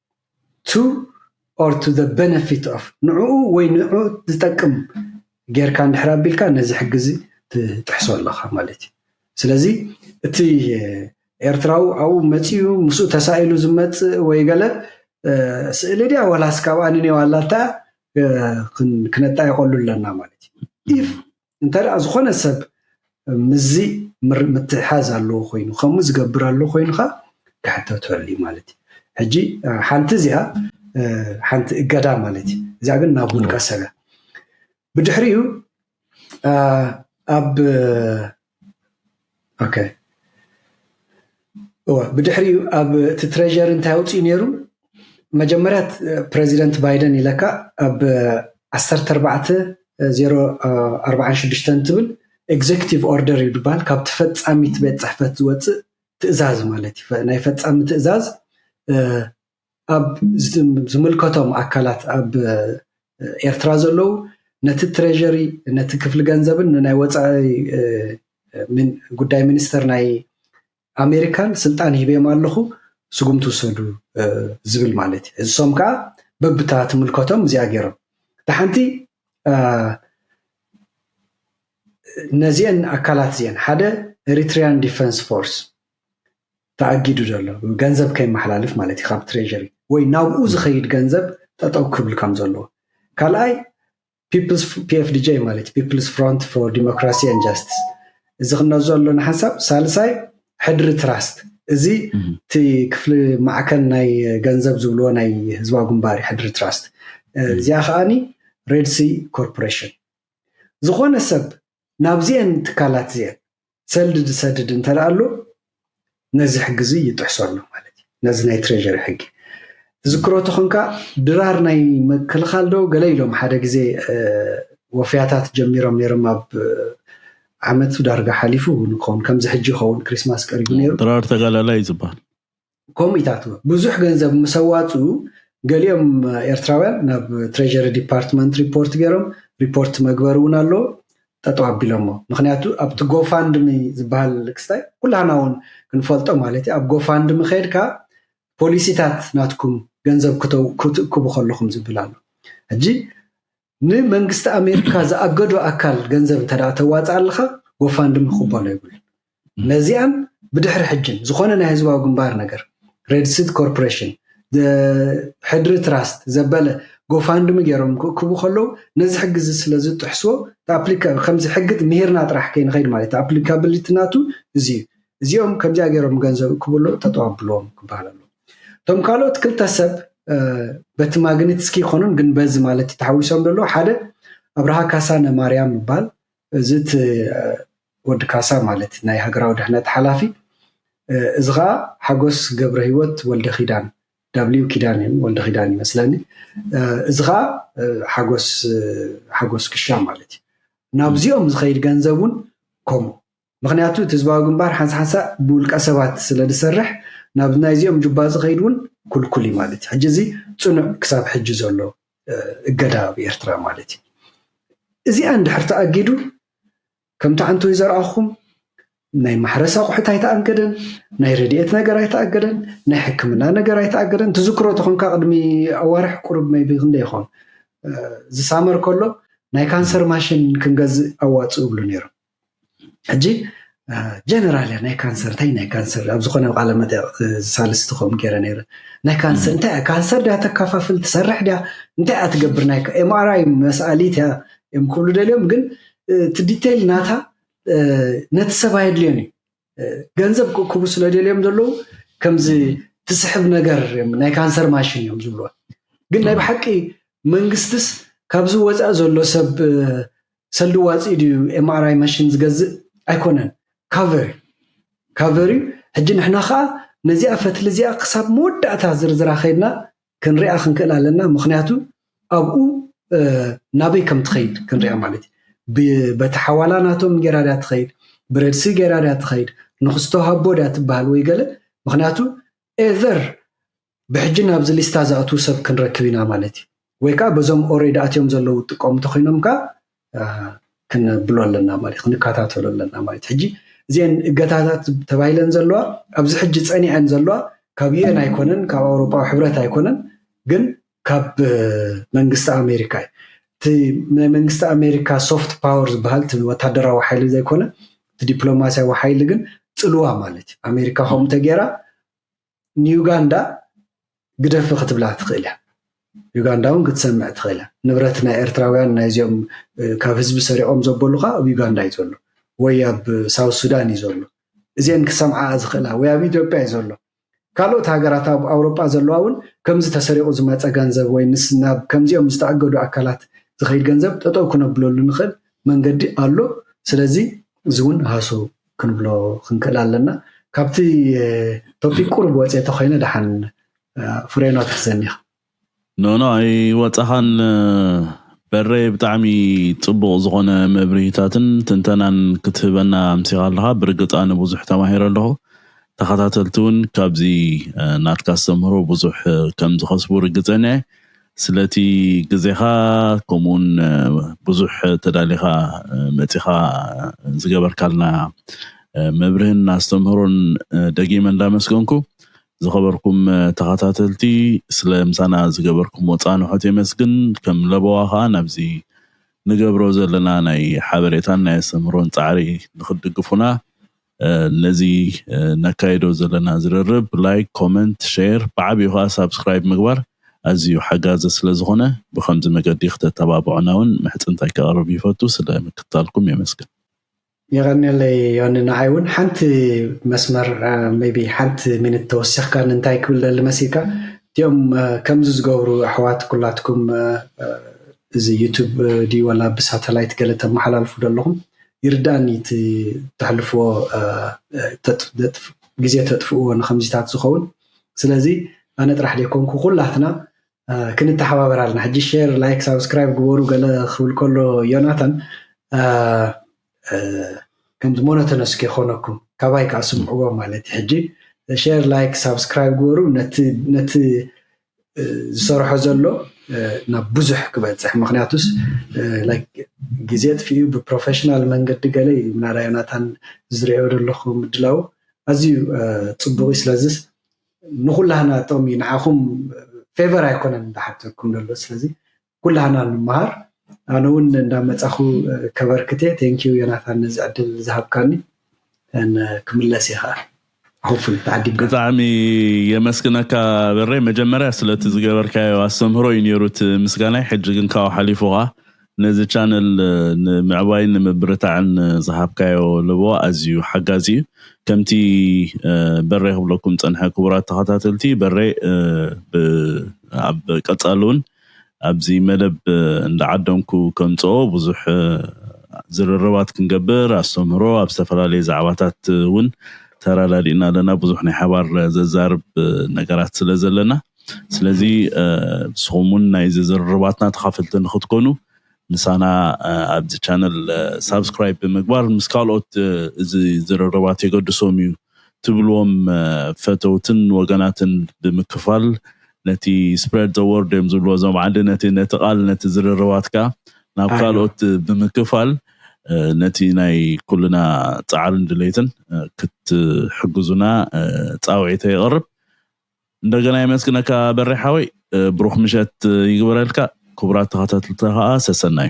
to or to the benefit of ንዕኡ ወይ ንዕኡ ዝጠቅም ጌርካ እንድሕር ኣቢልካ ነዚ ሕጊ እዚ ትጥሕሶ ኣለኻ ማለት እዩ። ስለዚ እቲ ኤርትራዊ ኣብኡ መጺኡ ምስኡ ተሳኢሉ ዝመጽእ ወይ ገለ ስእሊ ድያ ዋላስ ካብኣ ንኔው ኣላታ ክነጣይቐሉ ኣለና ማለት እዩ። ኢፍ እንተ ደኣ ዝኾነ ሰብ ምስዚ ምትሕሓዝ ኣለዎ ኮይኑ ከምኡ ዝገብር ኣሎ ኮይኑ ከኣ ክሕተተሉ እዩ ማለት እዩ። ሕጂ ሓንቲ እዚኣ ሓንቲ እገዳ ማለት እዩ። እዚኣ ግን ናብ ውልቀ ሰብ እያ። ብድሕሪኡ ኣብ ብድሕሪኡ ኣብ እቲ ትሬዠሪ እንታይ ኣውፂኡ ነይሩ መጀመርያ ፕረዚደንት ባይደን ኢለካ ኣብ ዓሰርተ ኣርባዕተ ዜሮ ኣርባዓን ሽዱሽተን ትብል ኤግዜክቲቭ ኦርደር እዩ ዝበሃል ካብ ተፈፃሚት ቤት ፅሕፈት ዝወፅእ ትእዛዝ ማለት እዩ ናይ ፈፃሚ ትእዛዝ ኣብ ዝምልከቶም ኣካላት ኣብ ኤርትራ ዘለዉ ነቲ ትሬዠሪ ነቲ ክፍሊ ገንዘብን ንናይ ወፃኢ ጉዳይ ሚኒስተር ናይ ኣሜሪካን ስልጣን ሂበዮም ኣለኹ ስጉምቲ ውሰዱ ዝብል ማለት እዩ። እሶም ከዓ በብታ ትምልከቶም እዚኣ ገይሮም እታ ሓንቲ ነዚአን ኣካላት እዚአን ሓደ ኤሪትሪያን ዲፈንስ ፎርስ ተኣጊዱ ዘሎ ገንዘብ ከይመሓላልፍ ማለት እዩ ካብ ትሬዠሪ ወይ ናብኡ ዝኸይድ ገንዘብ ጠጠው ክብል ከም ዘለዎ ካልኣይ ፒኤፍዲጄ ማለት ፒፕልስ ፍሮንት ፎር ዲሞክራሲ ን ጃስትስ እዚ ክነዞ ኣሎና ሓሳብ ሳልሳይ ሕድሪ ትራስት እዚ እቲ ክፍሊ ማዕከን ናይ ገንዘብ ዝብልዎ ናይ ህዝባዊ ግንባር ሕድሪ ትራስት እዚኣ ከዓኒ ሬድሲ ኮርፖሬሽን ዝኾነ ሰብ ናብዚአን ትካላት እዚአን ሰልዲ ዝሰድድ እንተደኣ ኣሎ ነዚ ሕጊ እዚ ይጥሕሶ ኣሎ ማለት እዩ። ነዚ ናይ ትሬዠሪ ሕጊ ትዝክሮ ተኾንካ ድራር ናይ ምክልኻል ዶ ገለ ኢሎም ሓደ ግዜ ወፍያታት ጀሚሮም ነይሮም ኣብ ዓመት ዳርጋ ሓሊፉ ንኸውን ከምዚ ሕጂ ይኸውን ክሪስማስ ቀሪቡ ነይሩ ድራር ተጋዳላይ እዩ ዝበሃል ከምኡ ኢታትዎ ብዙሕ ገንዘብ ምስ ኣዋፅኡ ገሊኦም ኤርትራውያን ናብ ትሬዠሪ ዲፓርትመንት ሪፖርት ገይሮም ሪፖርት መግበሪ እውን ኣሎ ጠጠው ኣቢሎሞ ምክንያቱ ኣብቲ ጎፋንድሚ ዝበሃል ክስታይ ኩላህና እውን ክንፈልጦ ማለት እዩ ኣብ ጎፋንድሚ ከድካ ፖሊሲታት ናትኩም ገንዘብ ክትእክቡ ከለኹም ዝብል ኣሎ ሕጂ ንመንግስቲ ኣሜሪካ ዝኣገዶ ኣካል ገንዘብ እንተ ተዋፀኣልኻ ጎፋንድሚ ክቕበሎ የብሉን። ነዚኣን ብድሕሪ ሕጅን ዝኾነ ናይ ህዝባዊ ግንባር ነገር ሬድሲት ኮርፖሬሽን ሕድሪ ትራስት ዘበለ ጎፋንድሚ ገይሮም ክእክቡ ከለዉ ነዚ ሕጊ እዚ ስለ ዝጥሕስዎ ከምዚ ሕጊ ምሂርና ጥራሕ ከይንኸይድ ማለት ኣፕሊካብሊቲ ናቱ እዚ እዩ እዚኦም ከምዚኣ ገይሮም ገንዘብ እክብሎ ጠጠው ኣብልዎም ክበሃል ኣለዎ። እቶም ካልኦት ክልተ ሰብ በቲ ማግኒትስኪ ይኮኖም ግን በዚ ማለት ተሓዊሶም ደሎ ሓደ ኣብርሃ ካሳነ ማርያም ይባል እዚ እቲ ወዲ ካሳ ማለት ናይ ሃገራዊ ድሕነት ሓላፊ እዚ ከዓ ሓጎስ ገብረ ህይወት ወልደ ኪዳን ዳብሊው ኪዳን እዮም ወልደ ኪዳን ይመስለኒ እዚ ከዓ ሓጎስ ሓጎስ ክሻ ማለት እዩ ናብዚኦም ዝኸይድ ገንዘብ እውን ከምኡ ምኽንያቱ እቲ ህዝባዊ ግንባር ሓንሳሓንሳእ ብውልቀ ሰባት ስለ ዝሰርሕ ናብ ናይዚኦም ጁባ ዝኸይድ ውን ኩልኩል ዩ ማለት ዩ። ሕጂ እዚ ጽኑዕ ክሳብ ሕጂ ዘሎ እገዳ ኣብ ኤርትራ ማለት ዩ። እዚኣ እንድሕር ተኣጊዱ ከምቲ ዓንተወይ ዘርኣኹም ናይ ማሕረስ ኣቑሑት ኣይተኣገደን፣ ናይ ረድኤት ነገር ኣይተኣገደን፣ ናይ ሕክምና ነገር ኣይተኣገደን። ትዝክሮ ተኾንካ ቅድሚ ኣዋርሕ ቁሩብ መይቢ ክንደይ ይኾን ዝሳመር ከሎ ናይ ካንሰር ማሽን ክንገዝእ ኣዋጽኡ ይብሉ ነይሮም። ሕጂ ጀነራል እያ ናይ ካንሰር እንታይ ናይ ካንሰር ኣብ ዝኾነ ቃለ መጠቕ ሳልስቲ ከምኡ ገይረ ነይረ ናይ ካንሰር እንታይ እያ ካንሰር ድያ ተካፋፍል ትሰርሕ ድያ እንታይ እያ ትገብር ናይ ኤምኣርኣይ መስኣሊት እያ እዮም ክብሉ ደልዮም ግን እቲ ዲቴይል ናታ ነቲ ሰብ ኣየድልዮን እዩ ገንዘብ ክእክቡ ስለደልዮም ዘለዉ ከምዚ ትስሕብ ነገር እዮም ናይ ካንሰር ማሽን እዮም ዝብልዋ ግን ናይ ብሓቂ መንግስትስ ካብዚ ወፃኢ ዘሎ ሰብ ሰልዲ ዋፂ ድዩ ኤምኣርኣይ ማሽን ዝገዝእ ኣይኮነን ካቨር ካቨር እዩ ሕጂ ንሕና ከዓ ነዚኣ ፈትሊ እዚኣ ክሳብ መወዳእታ ዝርዝራ ከይድና ክንሪኣ ክንክእል ኣለና ምክንያቱ ኣብኡ ናበይ ከም ትኸይድ ክንሪኣ ማለት እዩ በቲ ሓዋላ ናቶም ጌራ ድያ ትኸይድ ብረድሲ ጌራ ድያ ትኸይድ ንክስቶ ሃቦ ድያ ትበሃል ወይ ገለ ምክንያቱ ኤቨር ብሕጂ ናብዚ ሊስታ ዝኣትዉ ሰብ ክንረክብ ኢና ማለት እዩ ወይ ከዓ በዞም ኦሬድ ኣትዮም ዘለዉ ጥቀሙ እንተኮይኖም ከዓ ክነብሎ ኣለና ማለት ክንከታተሎ ኣለና ማለት ሕጂ እዚአን እገታታት ተባሂለን ዘለዋ ኣብዚ ሕጂ ፀኒዐን ዘለዋ ካብ ዩኤን ኣይኮነን ካብ ኣውሮፓዊ ሕብረት ኣይኮነን ግን ካብ መንግስቲ ኣሜሪካ እዩ እቲ ናይ መንግስቲ ኣሜሪካ ሶፍት ፓወር ዝበሃል እቲ ወታደራዊ ሓይሊ ዘይኮነ እቲ ዲፕሎማሲያዊ ሓይሊ ግን ፅልዋ ማለት እዩ ኣሜሪካ ከምኡ ተገይራ ንዩጋንዳ ግደፊ ክትብላ ትኽእል እያ ዩጋንዳ እውን ክትሰምዕ ትኽእል እያ ንብረት ናይ ኤርትራውያን ናይዚኦም ካብ ህዝቢ ሰሪቖም ዘበሉካ ኣብ ዩጋንዳ እዩ ዘሎ ወይ ኣብ ሳውት ሱዳን እዩ ዘሎ እዚአን ክሰምዓ ዝኽእላ ወይ ኣብ ኢትዮጵያ እዩ ዘሎ ካልኦት ሃገራት ኣብ ኣውሮጳ ዘለዋ እውን ከምዚ ተሰሪቑ ዝመፀ ገንዘብ ወይ ምስ ናብ ከምዚኦም ዝተኣገዱ ኣካላት ዝኸይድ ገንዘብ ጠጠው ክነብለሉ ንኽእል መንገዲ ኣሎ ስለዚ እዚ እውን ሃሱ ክንብሎ ክንክእል ኣለና ካብቲ ቶፒክ ቁሩብ ወጽየ ተኮይነ ደሓን ፍሬኖ ትሕዘኒ ኢካ ኖኖ ኣይወጻኻን በሬ ብጣዕሚ ጽቡቕ ዝኾነ መብርሂታትን ትንተናን ክትህበና ኣምሲኻ ኣለኻ ብርግጽ ኣነ ብዙሕ ተማሂረ ኣለኹ ተኸታተልቲ ውን ካብዚ ናትካ ኣስተምህሮ ብዙሕ ከምዝኸስቡ ርግጸኛየ ስለቲ ግዜኻ ከምኡውን ብዙሕ ተዳሊኻ መጺኻ ዝገበርካልና መብርህን ኣስተምህሮን ደጊመ እንዳመስገንኩ ዝኸበርኩም ተኸታተልቲ ስለ ምሳና ዝገበርኩምዎ ጻንሖት የመስግን ከም ለበዋ ከኣ ናብዚ ንገብሮ ዘለና ናይ ሓበሬታን ናይ ኣስተምህሮን ጻዕሪ ንኽትድግፉና ነዚ ነካይዶ ዘለና ዝርርብ ላይክ ኮመንት ሼር ብዓቢኡ ከኣ ሳብስክራይብ ምግባር ኣዚዩ ሓጋዚ ስለ ዝኮነ ብከምዚ መገዲ ክተተባብዑና ውን ምሕጽንታይ ከቅርብ ይፈቱ ስለ ምክትታልኩም የመስግን። የቐኔለይ ዮኒ ንዓይ ውን ሓንቲ መስመር ሜይቢ ሓንቲ ሚኒት ተወሲኽካኒ እንታይ ክብል ደሊ መሲልካ እቲኦም ከምዚ ዝገብሩ ኣሕዋት ኩላትኩም እዚ ዩቱብ ድዩ ዋላ ብሳተላይት ገለ ተመሓላልፉ ዶ ኣለኹም ይርዳኣኒ እቲ ተሕልፍዎ ግዜ ተጥፍእዎ ንከምዚታት ዝኸውን ስለዚ ኣነ ጥራሕ ደይኮንኩ ኩላትና ክንተሓባበር ኣለና ሕጂ ሼር ላይክ ሳብስክራይብ ግበሩ ገለ ክብል ከሎ ዮናታን ከምዚ ሞኖተነስ ከይኮነኩም ካባይ ከዓ ስምዕዎ ማለት እዩ ሕጂ ሼር ላይክ ሳብስክራይብ ግበሩ ነቲ ዝሰርሖ ዘሎ ናብ ብዙሕ ክበፅሕ ምክንያቱስ ግዜ ኣጥፊኡ ብፕሮፈሽናል መንገዲ ገለ እዩ ምናዳ ዮናታን ዝሪኦ ዘለኩ ምድላዉ ኣዝዩ ፅቡቅ እዩ ስለዝስ ንኩላህና ጥቅሚ እዩ ንዓኩም ፌቨር ኣይኮነን ዝሓተኩም ዘሎ ስለዚ ኩላህና ንመሃር ኣነ ውን እንዳመፃኩ ከበርክት እየ thank you ዮናታን ነዚ ዕድል ዝሃብካኒ ክምለስ እየ ከኣ hopefully ተዓዲምካ ብጣዕሚ የመስግነካ በሬ መጀመርያ ስለቲ ዝገበርካዮ ኣስተምህሮ እዩ ነይሩ እቲ ምስጋናይ ሕጂ ግን ካብኡ ሓሊፉ ከዓ ነዚ ቻነል ንምዕባይን ንምብርታዕን ዝሃብካዮ ለበዋ ኣዝዩ ሓጋዚ እዩ ከምቲ በሬ ክብለኩም ዝጸንሐ ክቡራት ተኸታተልቲ በሬ ኣብ ቀጻሊ እውን ኣብዚ መደብ እንዳዓደምኩ ከምጽኦ ብዙሕ ዝርርባት ክንገብር ኣስተምህሮ ኣብ ዝተፈላለየ ዛዕባታት እውን ተራዳዲእና ኣለና ብዙሕ ናይ ሓባር ዘዛርብ ነገራት ስለ ዘለና ስለዚ ንስኹም እውን ናይዚ ዝርርባትና ተኻፈልቲ ንኽትኮኑ ምሳና ኣብዚ ቻነል ሳብስክራይብ ብምግባር ምስ ካልኦት እዚ ዝርርባት የገድሶም እዩ ትብልዎም ፈተውትን ወገናትን ብምክፋል ነቲ Spread the word እዮም ዝብልዎ እዞም ዓዲ ነቲ ነቲ ቃል ነቲ ዝርርባትካ ናብ ካልኦት ብምክፋል ነቲ ናይ ኩልና ጻዕርን ድሌትን ክትሕግዙና ጻውዒተይ የቕርብ። እንደገና የመስግነካ በሬ ሓወይ ብሩክ ምሸት ይግበረልካ ክቡራት ተኸታትልታ ከዓ ሰሰናዩ